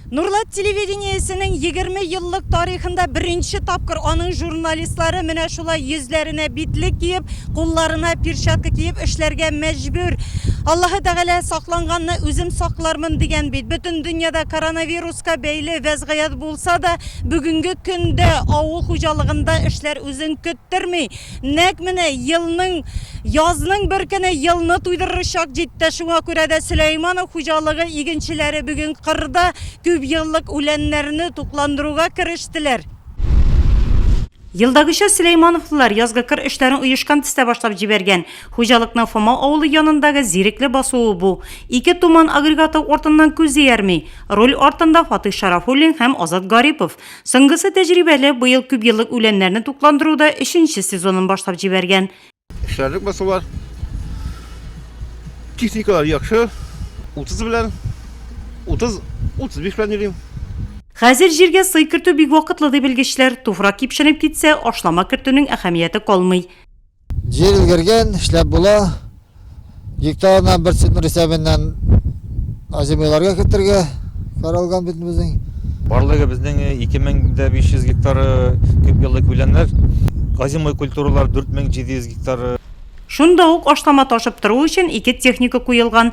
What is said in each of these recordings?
Нурлат телевидениесенең егерме еллык тарихында беренче тапкыр аның журналистлары менә шулай йөзләренә битлек киеп, кулларына перчатка киеп эшләргә мәҗбүр. Аллаһы Тәгалә сакланганны үзем саклармын дигән бит. Бөтен дөньяда коронавируска бәйле вәзгыять булса да, бүгенге көндә авыл хуҗалыгында эшләр үзен көттерми. Нәкъ менә елның, язның бер көне елны туйдырыр чак җитте. Шуңа күрә дә Сөләйманов хуҗалыгы игенчеләре бүген кырда күпьеллык үләннәрне тукландыруга керештеләр. Елдагыча Сөләймановлылар язгы кыр эшләрен оешкан төстә башлап җибәргән. Хуҗалыкның Фома авылы янындагы Зирекле басуы бу. Ике Туман агрегаты артыннан күз иярми. Руль артында Фатыйх Шарафуллин һәм Азат Гарипов. Соңгысы тәҗрибәле, быел күпьеллык үләннәрне тукландыруда өченче сезонын башлап җибәргән. Эшләрлек басулар. Техникалар яхшы. 30 белән 30 35 белән йөрим. Хәзер җиргә сый кертү бик вакытлы ди белгечләр. Туфрак кипшенеп китсә, ашлама кертүнең әһәмияте калмый. Җир өлгергән, эшләп була. Гектарына бер центнер исәбеннән азимыйларга кертергә каралган бит безнең. Барлыгы безнең 2500 гектар күп еллы күләннәр. Азимый культуралар 4700 гектар. Шунда ук ашлама ташып тору өчен ике техника куелган.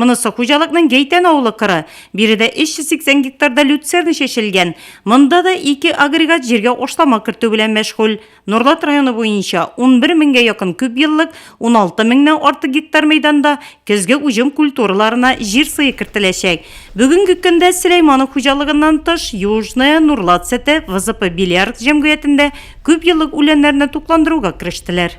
Монысы хуҗалыкның Гәйтән авылы кыры. Биредә 380 гектарда люцерна чәчелгән. Монда да ике агрегат җиргә ашлама кертү белән мәшгуль. Норлат районы буенча 11 меңгә якын күпьеллык, 16 меңнән артык гектар мәйданда көзге уҗым культураларына җир сые кертеләчәк. Бүгенге көндә Сөләйманов хуҗалыгыннан тыш, Южная, Норлат сөте, ВЗП Беляркт җәмгыятендә күпьеллык үләннәрне тукландыруга керештеләр.